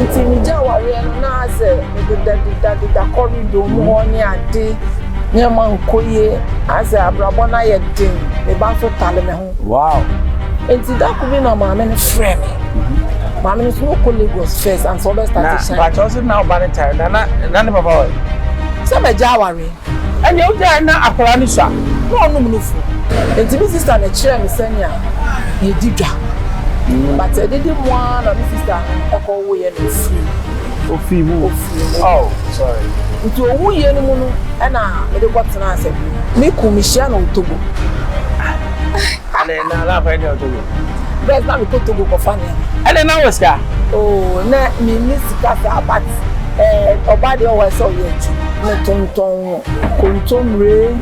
Ntsi megyaa awareɛ no na adze mededa deda deda corridor mu hɔ ne ade, nneɛma nnkɔ yie, adze abrabɔ no ayɛ den, me ba nso tale me ho. Wow! Ntsi da kor bi na maame no frɛɛ me, maame no nso na ɔkɔ Lagos first ansa ɔbɛ starte shine. Na mpakyɛw se na wo ba no tare da na na ne papa wɔ he? Sɛ magyaa awareɛ. Ɛnneɛ wogyae na akwadaa no sua na ɔnom nufu. Enti me sista no kyerɛɛ me sɛnea yɛdi dwa. But ɛdede mu ara na me sista no kɔwoeɛ na ɔfii mu. Ɔfii mu. Oh, sorry. Nti ɔwuiɛ no mu no na mede kɔtenaa sɛ me kunu mehyia no Otobo. Ɛnna na akwadaa no yɛ Otobo. Best na me kɔ Togo kɔ fa nneɛma. Ɛnna na wɔ sika? Oo, na me ni sika saa but ɛɛ ɔbaa deɛ ɔwɔ ɛsɛ ɔyɛ adwuma. Me tontɔn kontomire,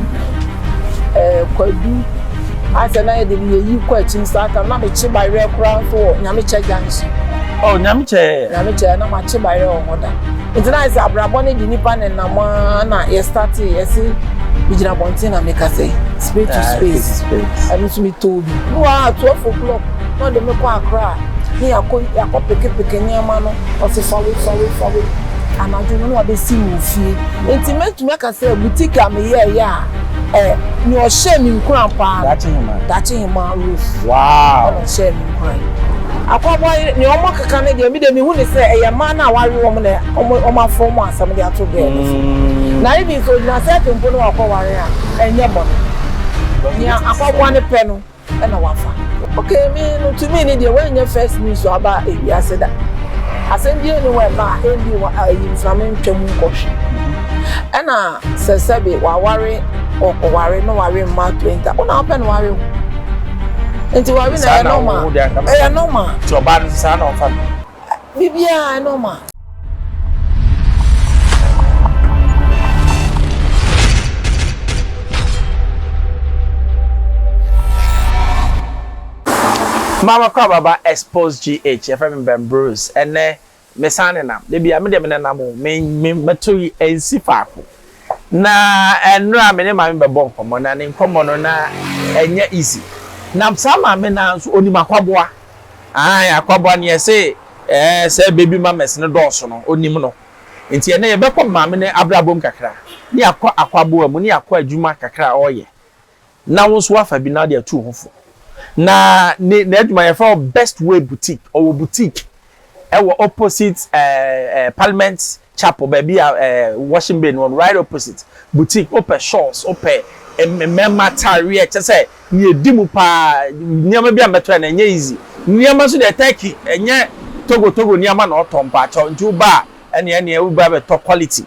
ɛɛ kwadu, asɛ na yɛ de yɛ yi kɔ akyim saa tam na me kye bayerɛ koraa nso wɔ Nyamekyɛ junction. Oh Nyamekyɛ. Nyamekyɛ na ma kye bayerɛ wɔ hɔ da. Ɛgyinae sɛ abrabɔ no de nipa nenam ara na yɛ startee yɛ se megyina abɔnten na meka sɛ spade to spade ɛno nso metɔɔ bi bi wɔ a 12 o'clock na ɔde me kɔ Accra ne yɛakɔ yɛakɔ pekepeke nneɛma no ɔse fa wei fa wei fa wei anadwo no na wabɛsi me ofie nti mɛtumi aka sɛ boutique a meyɛɛyɛ a Ɛ, nea ɔhyɛɛ me nkuran paa no. Daakye Hemaa. Daakye Hemaa Ruth. Wow! Ɛna ɔhyɛɛ me nkuran. Akwaboa yere, nea wɔkeka no deɛ, me deɛ mehu no sɛ ɛyɛ mmaa no a wɔawe wɔn na wɔn, wɔafom wɔn asɛm de ato girl no so. Na even sɛ ogyina sɛ atempo no wakɔware a, ɛnyɛ bɔne. Nea Akwaboa no pɛ no. na wafa. Ok me no to me no deɛ wanyɛ first news aba ewiase da asɛm bie ne wɔ ɛba a ɛndi wɔ ayi mframa ntwa mu nkɔ hwe ɛna sɛ sɛbe waware ɔware na ware mma 20 wo na wopɛ na ware wo nti ware na ɛyɛ normal ɛyɛ normal nti ɔbaa no nso saa na ɔfa no. Biribiara normal. Mama kɔ ababa expose GH yɛfrɛ me Ben Bruce ɛnɛ mesan nenam da biara medeɛ menenam o me me mɛto yi ɛnsi faako Na ɛnora me ne maame bɛbɔ nkɔmmɔ na ne nkɔmmɔ no na ɛnyɛ easy na saa maame no ara nso ɔnim akwaboa ae akwaboa neɛ se ɛɛ sɛ baby mamas no dɔɔso no ɔnim no nti ɛnɛ yɛbɛkɔ maame no abrabɔ mu kakra ne akɔ akwaboa mu ne akɔ adwuma kakra a ɔyɛ Na wo nso woafa bi na wode atu wo ho fo. Na ne n'adwuma yɛfrɛ hɔ Best Way Boutique. Ɔwɔ boutique ɛwɔ opposite ɛɛ ɛɛ Parliament Chapel baabi a ɛɛ washing bay no wɔ no right opposite. Boutique wopɛ shawls wopɛ mmarima ataareɛ kyɛ sɛ nea edi mu paa nneɛma bi a mɛtɔ yɛ na ɛnyɛ easy. Nneɛma nso deɛ Turkey ɛnyɛ Togo Togo nneɛma na ɔtɔ mpakyɛw nti woba a ɛneɛ ɛneɛ woba bɛtɔ quality.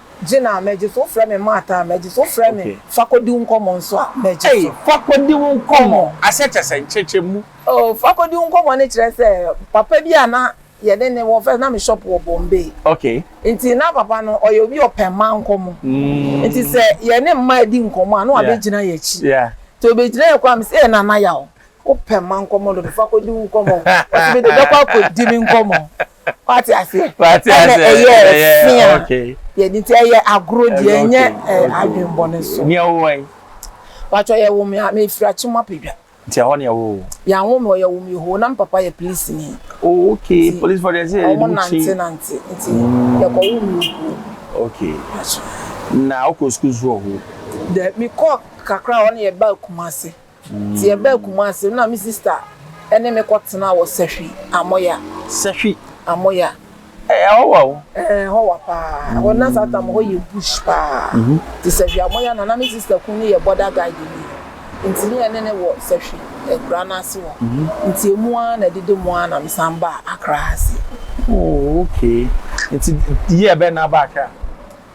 Gye no a, magye so. Wofrɛ me Martha a, magye so. Wofrɛ me Fa kɔdi wo nkɔmmɔ nso a, magye so. Ei, Fa kɔdi wo nkɔmmɔ ase kyerɛ sɛ nkyɛkyɛmu. Oh, Fa kɔdi wo nkɔmmɔ no kyerɛ sɛ papa bi a na yɛne no wɔ, first na me shop wɔ Bombay. Okay. Nti na papa no ɔyɛ obi a ɔpɛ mmaa nkɔmmɔ. Mm. Nti sɛ yɛne mmaa di nkɔmmɔ a, na wabɛgyina yɛn akyi. Yeah. Nti ɔbɛgyina yɛn kwan a, mese, Ei, Nana Yaw, wopɛ mmaa nkɔmmɔ dodo, fa kɔdi wo nkɔmmɔ. Ɔse, Mede, bɛkɔ akɔdi me nkɔmmɔ. wate aseɛ ɛna ɛyɛ fi a yɛde nti ɛyɛ agorɔ deɛ ɛnyɛ adwenbɔne so nea wowɔ yi patɔ yɛwo me a mefiri akye mu apɛdwa nti ɛhɔ nea wowɔ yɛawo me ɔyɛwo me hoo na mpapa yɛ polisi ni oh, ok polisi fɔ deɛ sɛ yɛde mu kyi nante nante nti mm. yɛkɔwo me hoo ok na wokɔ sukuu so wɔ hoo dɛ mekɔ kakra hɔ ne yɛba akuma ase Nti yɛbaa Kumasi no na me sista ne me kɔ tenaa wɔ Sahwi Amoya. Sahwi Amoya. Ɛhɔ wa o? Ɛɛ ɛhɔ wa paa. Ɛhɔ no na saa tam hɔ yɛ bush paa. Nti Sahwi Amoya na na me sista kun no yɛ border guard ni. Nti ne yɛne no wɔ Sahwi akura no ase hɔ. Nti emu ara na ɛdede mu ara na me san baa Accra ha sei. Oh okay. Nti year bɛn na aba Accra?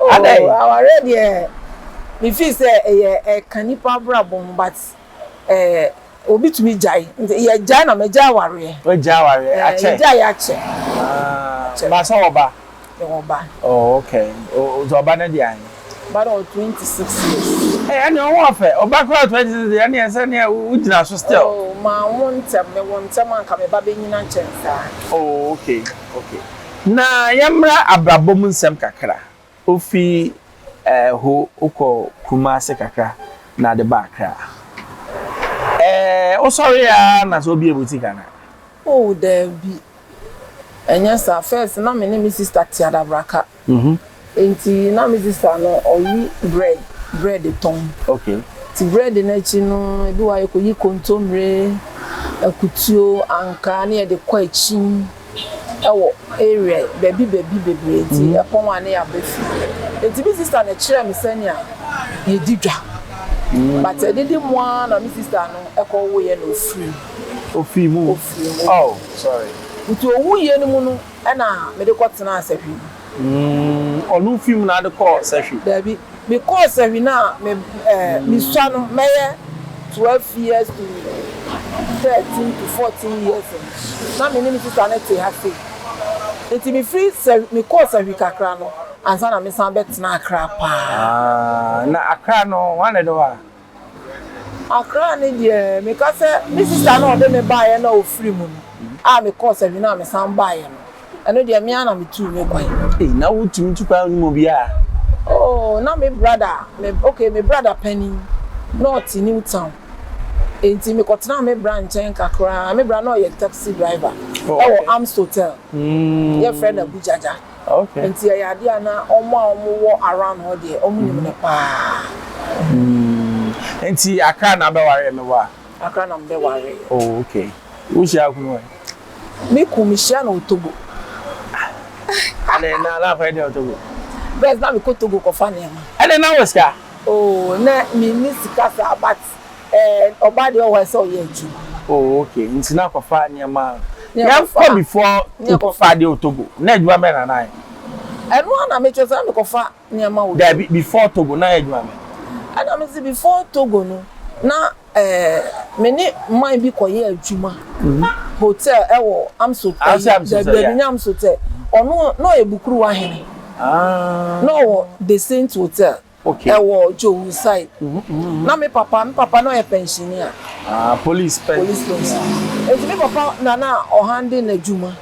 Adɛn? Oh, awareɛ deɛ, me feel sɛ ɛyɛ ɛka nipa abrabɔ ho but eh, obi tumi gyae, nti yɛ gyae na magyae awareɛ. Wagyae awareɛ, eh, akyɛ? Yɛgyaeɛ akyɛ. Ah, ba sɛ wɔ ba? Yɛwɔ ba. Oh, okay, nti ɔba no de ahe? Ɔba no wɔ 26 years. Eh, ɛne ɔho ɔfɛ, ɔba koraa 26 deɛ, ɛne ɛsɛ ne wo gyina so still. Oh, ma wo ntɛm, me wo ntɛm a nka me ba bɛnyina kyɛn saa. Oh, okay. Na yɛmmra abrabɔ mu nsɛm kakra. Wofi ɛɛ ho wokɔ Kumase kakra na ade ba Accra. Ɛɛ wosɔre ara na sɛ wobue boutique anaa? Oh, daabi. Ɛnyɛ saa. First, na me ne me sister te adabraka. Mhm. Enti na me sista no ɔwe brɛd, brɛd tɔn. Okay. Nti brɛd no akyi no, ebi wɔ hɔ a yɛkɔyi kontommire, akutuo, ankaa ne yɛde kɔ akyin wɔ area baabi baabi bebree nti ɛpɔn a ne yɛaba fie. Enti me sista no kyerɛɛ me sɛnea yɛdi dwa. But ɛdede mu ara na me sista no kɔwoeɛ na ɔfirii mu. Ɔfirii mu. Ɔfirii mu. Oh, sorry. Nti ɔwuiɛ no mu no. Ɛna mede kɔ tenaa sahwi mu. Umm ɔno fi mu na ade kɔɔ sahwi? Daabi, me kɔɔ sahwi na me eh me sua no mɛyɛ twelve years to thirteen to fourteen years no na me ne me sista no te ha sei. Nti me firi sahwi me kɔɔ sahwi kakra no ansa na me san bɛ tenaa Accra paa. Ah na Accra no hwan na ɛde hɔ a? Accra ne deɛ meka sɛ me sister no a ɔde me baeɛ no a ɔfiri mu no a mekɔɔ Savina a mesan baeɛ no, ɛno deɛ me ara na metuu me kwan. Ei, na wotumi tu kwan wonim obiara? Oo, na me brada, me, okay, me brada panin, na ɔte New Town, enti mekɔtenaa me bra nkyɛn kakra, me bra na ɔyɛ taxi driver wɔ Amst Hotel, yɛfrɛ no Abu Jaja. Nti ɛyɛ adeɛ a na wɔn a wɔn wɔ around hɔ deɛ wɔn nim no paa. Hmm. Nti akra na abɛ ware ɛmɛ wa. Akra na mbɛ ware. Oh okay. Wo hyia akunu wɛ. Me kun me hyia na otogo. Ɛnɛ na na akɔ ɛdɛ otogo. Bɛs na me kɔ togo kɔ fa nneɛma. Ɛnɛ na wɔ sika. Oh na me ni sika saa but. And ɔbaa deɛ ɔwɔ hɔ sɛ ɔyɛ adwuma. Oh okay nti na kɔfa nneɛma a yɛnkɔ before wokɔfa adeɛ wɔ Togo na adwuma bɛn na na ayɛ. Ɛno ara na me kyerɛ sɛ na me kɔfa nneɛma wɔ Togo. Dabi before Togo na ayɛ adwuma bɛn. Ɛna me se before Togo no na eh me ne man bi kɔ yɛ adwuma hotel ɛwɔ Amso ɛyi dabi dabi nyɛ Amso tɛ ɔno na ɔyɛ Bukuruwa hene na ɔwɔ the Saint hotel. ɛwɔ Djowu side. Na me papa, me papa na ɔyɛ pɛnhyenni a. Ah, police pɛn. Police pɛnhyenni. Nti me papa na na ɔhande n'adwuma,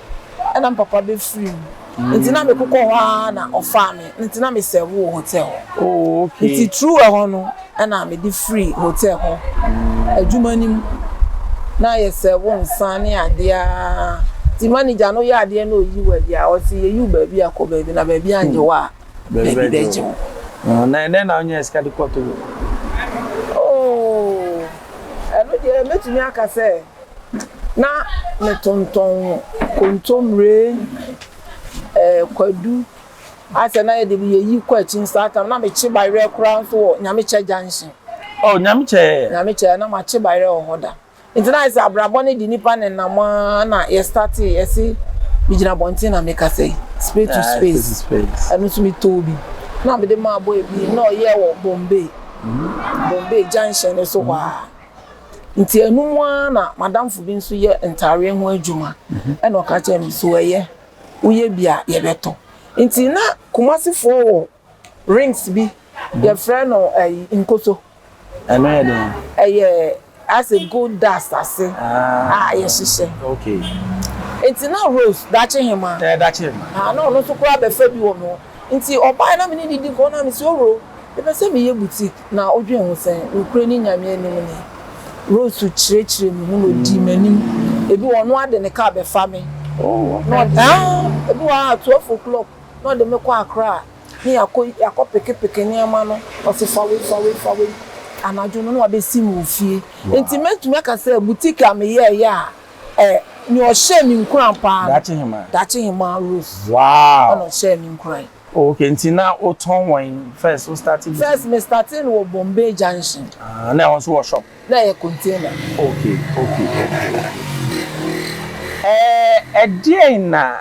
ɛna me papa bɛfiri mu. Nti na mekokɔ hɔ ara na ɔfaa me, nti na me serve wɔ hotel hɔ. Oh, okay. Nti through ɛhɔ no, ɛna mede firi hotel hɔ adwuma no mu. Na yɛ serve nsa ne adeɛ ara. Nti manager no yɛ adeɛ na ɔyi wo adi a, ɔse yɛyi wo baabi a kɔ baabi, na baabi annyɛ wo a, Baabi bɛgye wo. Na ɛnɛ na wonya sika de kɔ togo. Oh, ɛno deɛ mɛtumi aka sɛ na metontɔn kontommire, eh, kwadu, asɛ na yɛde yɛyi kɔ akyi nso saa tam na mekye bayerɛ koraa nso wɔ Nyamekyɛ junction. Oh, Nyamekyɛ. Nyamekyɛ, na makye bayerɛ wɔ hɔ da. Ntsi na ayɛ sɛ abrabɔ no de nnipa nenam ara na yɛ startee, yɛse megyina abɔnten na mekasa yi, space to space, ɛno nso metɔɔ bi na mede maa boy bi na ɔyɛɛ wɔ Bombay, Bombay junction no so hɔ ara. Ntsi ɛno mu ara na m'adamfo bi nso yɛ ntaareɛ ho adwuma na ɔka kyerɛɛ me, so ɛyɛ, woyɛ bi a yɛbɛtɔ. Ntsi na Kumasefoɔ wɔ Rings bi yɛfrɛ no ɛyi nkoso. Ɛno yɛ den. Ɛyɛ ase gold dust ase a yɛhyehyɛ. Okay. Nti na Rose dakye hema. Ɛyɛ dakye hema. Haa na ɔno nso koraa bɛfa bi wɔ me hɔ. Nti ɔbae na me ne no di nkɔmmɔ na me se oro mepɛ sɛ meyɛ boutique na wodwen ho sɛn? Nokorɛ ni Nyame anim ni Rose kyerɛkyerɛ me mu na ɔdii m'anim. Ebi wɔ hɔ ɔno ara de ne car bɛfa me. Oh, okay. Na ɔde, haa, ebi wɔ hɔ a 12 o'clock. na ɔde me kɔ Accra ne yɛakɔ yɛakɔ pekepeke nneɛma no, ɔse fa wei fa wei fa wei, anadwo no na wabɛsi me wɔ fie. Nti mɛtumi aka sɛ boutique a meyɛɛyɛ a ɛ nea ɔhyɛɛ me nkuran paa no, Daakye Hemaa Rose ɛna ɔhyɛɛ me nkuran. Oh okay, nti na wotɔn wɔ he first, wo startee boutique? First me startee no wɔ Bombay Junction. Ah, na ɛhɔ nso wɔ shop? Na ɛyɛ container. Okay okay okay okay. Ɛɛ ɛdeɛn na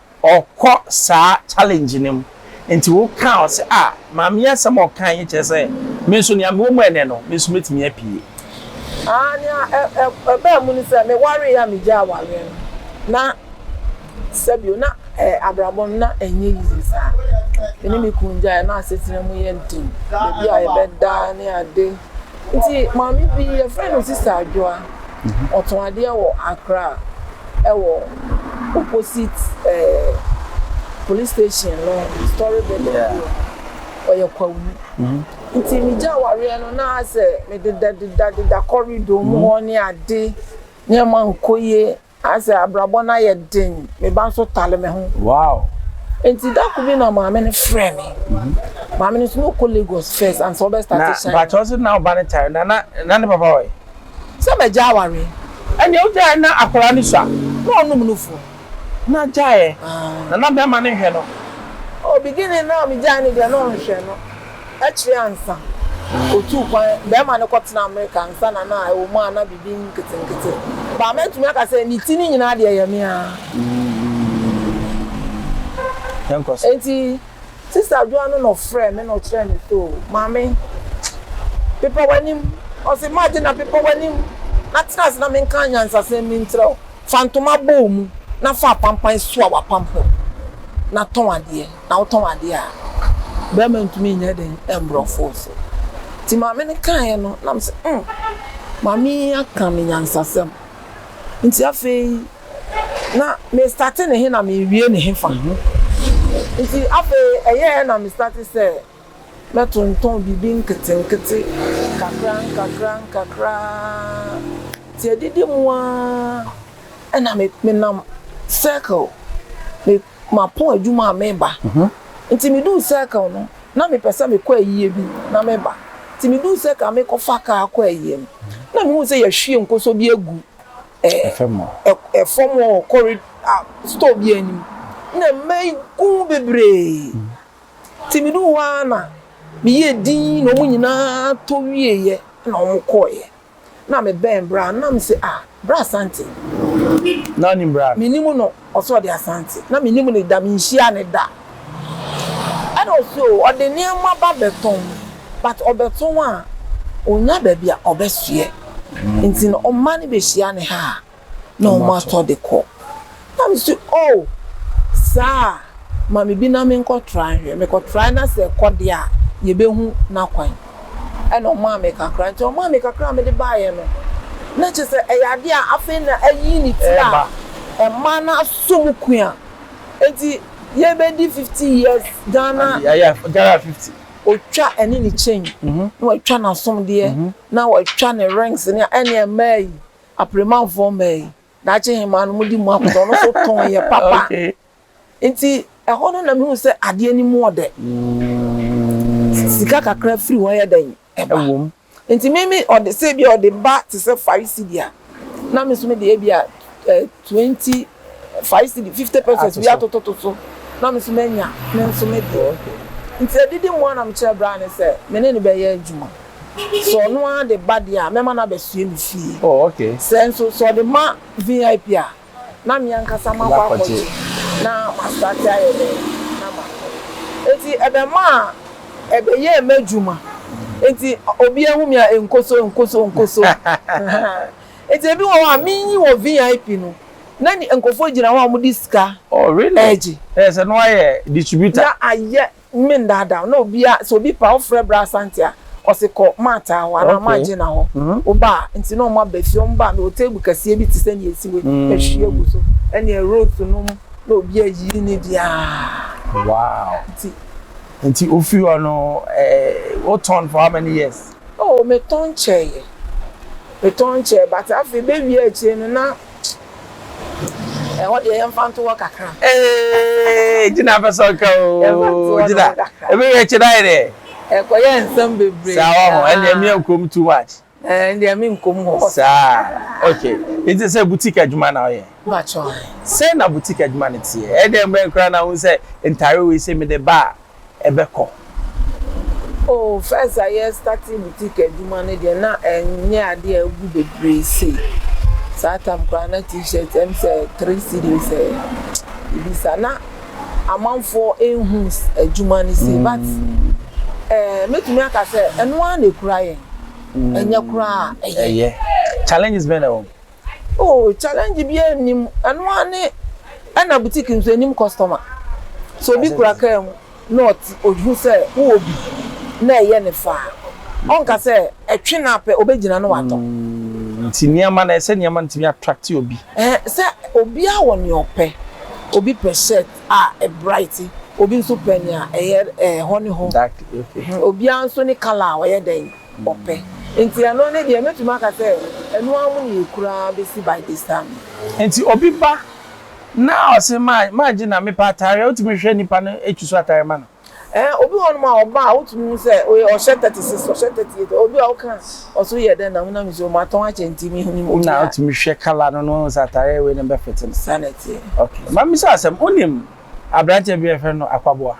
Ɔkɔ saa challenge no mu nti wo kaa ɔse ah maame yi asɛm a ɔkae yi kyerɛ sɛ me nso nea mewɔ mu ɛnɛ no me nso mɛtumi apue. Ah nea ɛbaa mu ne sɛ me wareɛ a me gyaa wareɛ no na sɛbio na abrabɔ no na ɛnyɛ easy saa me ne me kunu gyaeɛ na asetena mu yɛ den baabi a yɛbɛda ne ade nti maame bi yɛfrɛ no Sista Adwoa ɔtɔn adeɛ wɔ Accra. wɔ opposite ɛɛ police station no story building yeah. bio ɔyɛ kwawu nti megya awareɛ no na sɛ mededadedadeda corridor mu hɔ ne ade nneɛma nkɔ yie asɛ abrabɔ no ayɛ den me ba nso tale me ho wow nti dako bi na maame no frɛ me mhm. maame no nso na ɔkɔ lagos first ansa ɔbɛstate hyɛ na bakyɛ ɔse na ɔba no tare na na ne papa ɔyɛ sɛ magya awareɛ. Ɛnneɛ wogyae a na akwadaa no sua, na ɔnom nufoɔ. Na gyaeɛ na na bɛrima no nhwɛ no. Oh beginning no a megyae no deɛ na ɔnhwɛ no. Akyire ansa ɔtuu kwan bɛrima no kɔtenaa Amerika ansa na na ɛwɔ mu a na biribi nketenkete ba a mɛtumi aka sɛ ne ti no nyinaa deɛ ɛyɛ me ara. Yɛnkɔ so. Enti. Sister Adwoa no na ɔfrɛɛ me na ɔkyerɛɛ me so o, Maame, pepa w'anim. Ɔse, Margina, pepa w'anim na tena ase na menka anyansasɛm bi nkyerɛ wo. Fa ntoma bɔ wo mu na fa apampan soa w'apampam na tɔn adeɛ. Na wotɔn adeɛ a, barima ntumi nyɛ den mmoro ɔfoɔ so. Nti maame no kaeɛ no, na mese, hmm, maame yi aka me nyansasɛm. Nti afei na me starte ne he na mewie ne hefa? Nti afei ɛyɛɛ na me starte sɛ mɛtontɔn biribi nketenkete nkakra nkakra nkakra nti adidi mu ara na me nam circle me mapɔn adwuma a meba nti me duu circle no na me pɛ sɛ me kɔ ayie bi na me ba nti me duu circle a me kɔ fa kaa kɔ ayie no na me hu sɛ yɛhwie nkosɔ bi agu fam hɔ. Fam hɔ wɔ corrid a store bi anim na mmaa yi gu ho bebree. Nti me duu hɔ ara na me yɛɛ dinn na wɔn nyinaa tɔ wieeɛ na wɔn kɔeɛ. Na me bɛn bra no na me se ah bra Asante. Na wonim bra no? Me nim no. Ɔse ɔde Asante na me nim no da me nhyia no da ɛna ɔse oo ɔde nneɛma ba bɛtɔn but ɔbɛtɔn a ɔnya baabi a ɔbɛsoɛ nti no ɔmma no bɛhyia no ha a na ɔmo atɔ de kɔ na me se oo saa a ma me bi na me nkɔ try nhwɛ me kɔ try na sɛ ɛkɔ deɛ a yɛbɛhu na kwan. ɛna ɔmaa me kakra nti ɔmaa me kakra a mede baeɛ no na kyerɛ sɛ ɛyɛ adeɛ a afei na ayi ne ti a ɛma no asɔ mu kua nti yɛbɛdi fifty years Ghana ɔtwa ɛne ne chain na watwa n'asomdeɛ na watwa ne rings ne ɛne mmaa yi apremanfoɔ mmaa yi daakye hemaa no mode mu akɔdɔ ɔno nso tɔn yɛ papa. Nti ɛhɔ no na mehuu sɛ adeɛ no mu ɔdɛ. Sika kakra firi hɔ yɛ dɛn? Ɛba. Nti me me ɔde sɛ ebia ɔde ba te sɛ five cedi a, na me nso me de ebia eh, twenty, five cedi, fifty pesos bi atototo so, na me nso manya me nso me deɛ. Nti adidi mu ara na mekyerɛɛ braa no sɛ me ne no bɛyɛ adwuma. Sɛ ɔno ara de ba deɛ a, mɛma no abɛsoɛ me fie. Sɛ nso, sɛ ɔde ma VIP a. na me ankasa makɔ akɔgye na mastate ayɛ dɛn na matɔn. Enti ɛbɛmaa ɛbɛyɛɛ m'adwuma. Enti obiara hu me a, nkoso, nkoso, nkoso. Enti ebi wɔ hɔ a, menyi wɔ VIP no, na nkurɔfoɔ gyina hɔ a wɔde sika regye. Oh really? Ɛyɛ sɛ na woayɛ distributor? Na ayɛ. Mme ndaadaa wo na obia sɛ obi paa wofrɛ bra asante a ɔse kɔ maataa hɔ anaa maagyenna hɔ wobaa nti na ɔmo aba fie ɔmo baa mewɔ table kɛseɛ bi te sɛ nea esi wei mahwie agu so ɛneɛ rose nom na obi ayiyi ne deɛ aa nti nti ofiri hɔ no ɛɛ wotɔn for how many years? Oh metɔn kyɛeɛ metɔn kyɛeɛ but afei bɛwie akyire no na Ɛhɔ deɛ yɛmfa nto hɔ kakra. Ee, gyina pɛ sɛ ɔka o. Gyina. Ebi yɛ kye dan dɛ. Ɛkɔyɛ nsɛm bebree. Saa wɔ ho. Ɛnna ɛmi nkom too much. Ɛnna ɛmi nkom hɔ. Saa okay. Nti sɛ boutique adwuma na ɔyɛ. Bàtchɔ. Sɛ na boutique adwuma no teɛ. Ɛdɛn bɛn koraa na ohun sɛ ntaare wei sɛ mi de ba a. ɛbɛkɔ. Oh first a yɛ starting boutique adwuma no deɛ na ɛnyɛ adeɛ a ɛgu bebree sei. Saa time koraa na t-shirt ɛm sɛ three cedis ɛ biribi saa. Na amanfoɔ nhu adwuma no sei but eh mɛtumi aka sɛ ɛno ara na ɛkura yɛn. Ɛnyɛ koraa a ɛyɛ. Ɛyɛ. Challenges bɛn na ɛwɔ mu? Oh challenge biaa nnim ɛno ara ne ɛna boutique nso ɛnnim customer sɛ obi kura car mu na ɔhu sɛ wowɔ bi na ɛyɛ no fɛ a ɔnka sɛ ɛtwe no apɛ ɔbɛgyina na watɔ. Mm nti nneɛma no ɛsɛ sɛ nneɛma no tumi attract obi. Ɛhɛ sɛ obiara wɔ nea ɔpɛ obi pɛ shirt a ɛ bright obi nso pɛ nea ɛyɛ ɛɛ hɔ ne hɔ obiara nso ne colour a ɔyɛ dɛn. ɔpɛ. Nti ɛno ne deɛ mɛtumi aka sɛ ɛno ara mu na yɛkura ara bɛsi by this time. Nti obi ba na ɔse magye na mepɛ ataareɛ a, wotumi hwɛ nipa no ɛtu so ataareɛ ma no? Ɛɛ, obi wɔ hɔnom a ɔba a wotumi hu sɛ oye ɔhyɛ thirty six, ɔhyɛ thirty eight, obi a woka a ɔse woyɛ dɛn na wonam nsuo mu atɔn akyɛ nti mennim obi a. Na wotumi hwɛ colour no na woahu sɛ ataareɛ wei na ɛbɛfete no. Saa na ɛteɛ. Ok, ma misa wo asɛm, wonim aberanteɛ bi a yɛfrɛ no Akwaboa?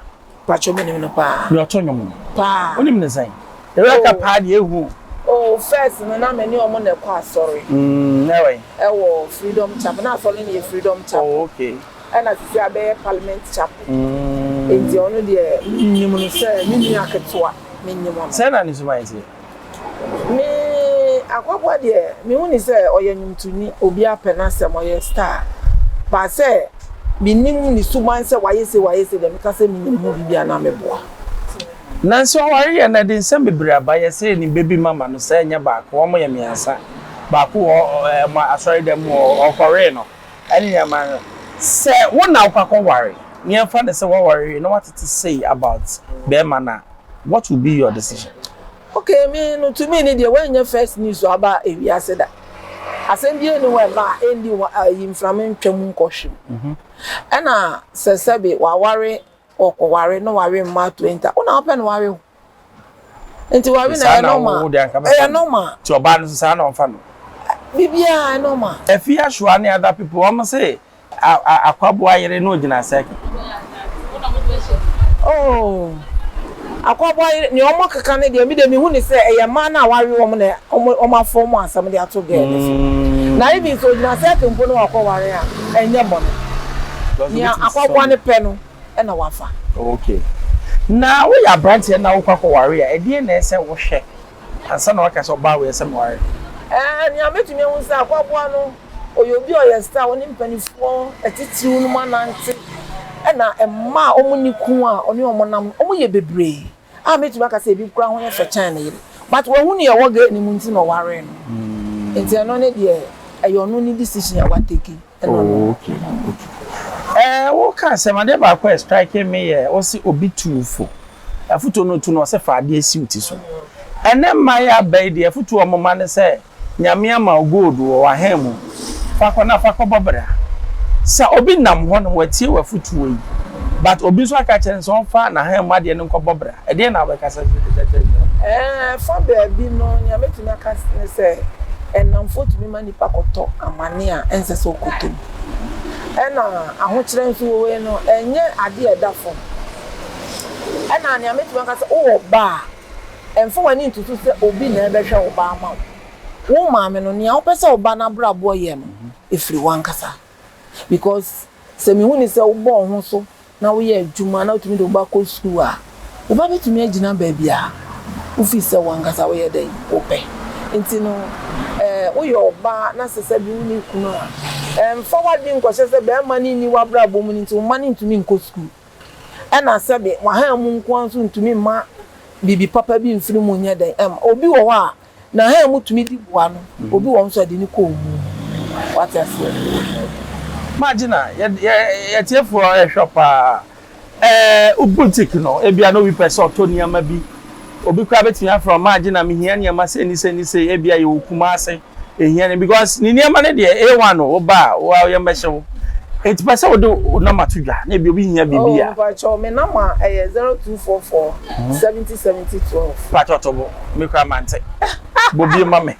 Pacho me nim no paa. Nea ɔto nnwom no. Paa. Wonim no sɛn? Eureka paa deɛ ehu o. Oh first no na me ne ɔmo na ɛkɔ asɔre. Mm, na ɛwɔ yi? Ɛwɔ Freedom Chapel, na asɔre no yɛ Freedom Chapel. Oh okay. Ɛna sisi abɛyɛ Parliament Chapel. Mm. Enti ɔno deɛ me nim no sɛ me nua ketewa, me nim ɔno. Sɛn na ne suban teɛ? Me Akwakoa deɛ me hu ne sɛ ɔyɛ nwomtoni obi apɛ n'asɛm ɔyɛ star but sɛ me nim ne suban sɛ wayɛ sei wayɛ sei deɛ mɛka sɛ me nim ho biribi a na me boa. Nanso aware yɛ no ɛde nsɛm bebree aba yɛ sɛ yɛ nim baby mama no sɛ ɛnyɛ baako wɔn yɛ mmiɛnsa baako wɔ wɔn asɔre dɛm mu wɔ ɔkɔwee no ɛne nneɛma no sɛ wo na wokɔ akɔ ware na yɛn fa no sɛ waware wie na watete sei about bɛɛma no a what will be your decision? Ok me no to me no deɛ wanyɛ first news aba ewiase da asɛm bie ne hɔ ɛba a ɛndi hɔ ayi mframa ntwa mu nkɔ hwe mu mhm. ɛna sɛ sɛbe waware ɔkɔware na wawe mma 20 wona wopɛ no wawe ho nti wawe na ɛyɛ nɔma ɛyɛ nɔma nti ɔbaa no so saa na ɔmfa no biribiaa ɛnɔma afie asoa ne other people ɔmo se A Akwaboa yere na ogyina circle. Oh, Akwaboa yere, nea wɔn keka no deɛ me deɛ me hu no sɛ ɛyɛ mmaa no a wɔawe wɔn na wɔn afɔ wɔn asɛm de ato girl no so. Na even sɛ ogyina circle mpo na wakɔ ware a, ɛnyɛ bɔne. Nea Akwaboa no pɛ no na wafa. Okay. Na woyɛ abranteɛ na wokɔ akɔ ware a, ɛdeɛn na ɛsɛ wohwɛ? ansa na waka sɛ ɔbaa wei asɛm ware. Ɛɛ, nea metumi ahu ne sɛ Akwaboa no, ɔyɛ obi a ɔyɛ star a ɔne mpanimfoɔ atitiriw nom anante, ɛna mma a wɔnni kunu a ɔne wɔn nam no, wɔyɛ bebree a mɛtumi aka sɛ ebi koraa ho yɛ fɛ kyɛn ne yere, but wahu nea ɛwɔ girl no mu nti na ɔwaree no, nti ɛno ne deɛ ɛyɛ ɔno ne decision a watake. Wo ka asɛm adeɛ baako a strike me yɛ wo se obi tuu fo afutuo no otu no ɔse fa adeɛ si wo ti so ɛnɛ mma yɛ aba yi deɛ afutuo ɔmo ma ne sɛ nyame ama wo gold wɔ wahen mu fa kɔ na fa kɔ bɔ bra sɛ obi nam hɔ nom watie wafutuo yi but obi nso aka kyerɛ no sɛ ɔmfa nahen mu adeɛ no nkɔ bɔ bra ɛdeɛ na wobɛka sɛ ɛɛ fa baabi no nea mɛtumi aka ne sɛ ɛnamfoɔ tumi ma akɔtɔ amane a ɛnsɛ sɛ ɔkɔtɔ mu. Ɛna ahokyerɛ nso wɔ wei no, ɛnyɛ adeɛ a ɛda fam. Ɛna nea mɛtumi aka sɛ wowɔ ba a, ɛmfa w'ani nto so sɛ obi na ɛbɛhwɛ wo ba ama wo. Wo maame no, nea wopɛ sɛ wo ba no abrabɔ yɛ no, ɛfiri w'ankasa. because sɛ mehu no sɛ wobɔ wo ho so na woyɛ adwuma na wotumi de wo ba kɔ sukuu a, wo ba bɛtumi agyina baabi a wofii sɛ wo ankasa woyɛ dɛn? Wopɛ. Nti no, eh, woyɛ ɔbaa na sɛ sɛbe wonni kunu a, eh, mfa w'adwene nkɔhyɛ sɛ barima no nni w'abrabɔ mu no nti wo mma no ntumi nkɔ sukuu. Ɛna sɛbe wahaa mu nko ara nso ntumi mma biribi papa bi mfiri mu nyɛ dɛn? Ɛmma. Obi wɔ hɔ a, Na hɛn mu tumi dzi boa no, obi wɔ hɔ so a yɛde no kɔ owu mu. Ɔatse ase. Magye na yɛ etsiefo a ɔyɛ hwɛ paa. Ɛɛ, boutique no, ebia na obi pɛ sɛ ɔtɔ nneɛma bi. Obi koraa betumi afrɛ wo, Magye na mihia nneɛma sei ne sei ne sei, ebia yɛwɔ Kumase, yehia no, because ne nneɛma no deɛ, A1 o, woba a, wo ara yɛmmɛhyɛ wo. Enti pɛ sɛ wode wo nɔma to dwa, na ebia obi hia biribi a. Oh, mpakyɛw, me nɔma yɛ zero two four four seventy seventy twelve. Mpakyɛw to bo. Me kura mante. Bɔ bie ma me.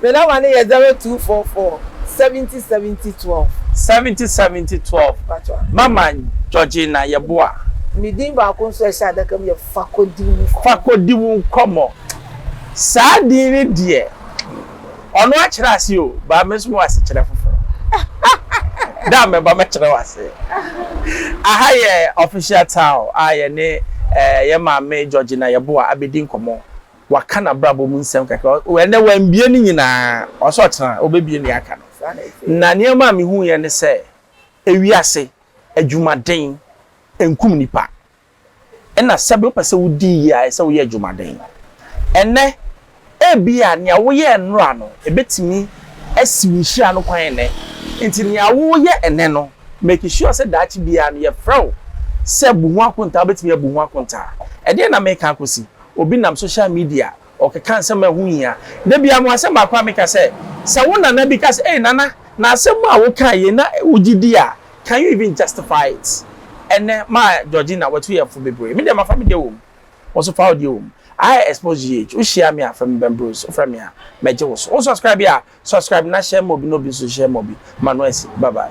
Me nɔma no yɛ zero two four four seventy seventy twelve. Seventy seventy twelve. Mama Georgina Yeboah. Me din baako nso a ɛhyɛ adaka mu yɛ Fakodiwunkɔmɔ. Fakodiwunkɔmɔ. Saa din no deɛ. Ɔno akyerɛ ase o, but me nso mewɔ asekyerɛ foforɔ. Da a mɛba mɛkyerɛ wo ase. Aha yɛ Official Town a yɛne eh, yɛn maame Georgina Yeboah abɛdi nkɔmmɔ. Waka n'abrabɔ mu nsɛm kakra. Ɔ, ɛnnɛ wambue ne nyinaa. Ɔwɔ sɛ ɔkyena ɔbɛbue nea aka no. Na nneɛma a mehuiɛ ne sɛ, ewiase adwumaden nkum nnipa. Ɛna sɛbe wopɛ sɛ wodi yie a, ɛsɛ sɛ woyɛ adwumaden. Ɛnnɛ, ebia nea woyɛɛ nnora no, ɛbɛtumi asi wo nhyira no kwan nnɛ. Enti nea woreyɛ ɛnnɛ no, make sure sɛ daakye biara no, yɛfrɛ wo sɛ bu ho akontaa, wobɛtumi abu ho akontaa. Ɛdeɛn na mereka akɔsi? Obi nam social media Ɔkeka nsɛm a ɛho hia. Da biara no, asɛm baako a meka sɛ, Sɛ wo nana bi ka sɛ, Ei, Nana, na asɛm a wokae yei na wogye di a, can you even justify it? Ɛnnɛ, maa Georgina watu yɛn fo bebree. Me deɛ, mafa me deɛ wom. Wo nso, fa wo deɛ wom. I expose GH. Wohyia me a, frɛ me Ben Bruce. Wofrɛ me a, mɛgye wo so. Wo subscribe a, subscribe na share ma obi na obi nso share ma obi ma no asi. Bye bye.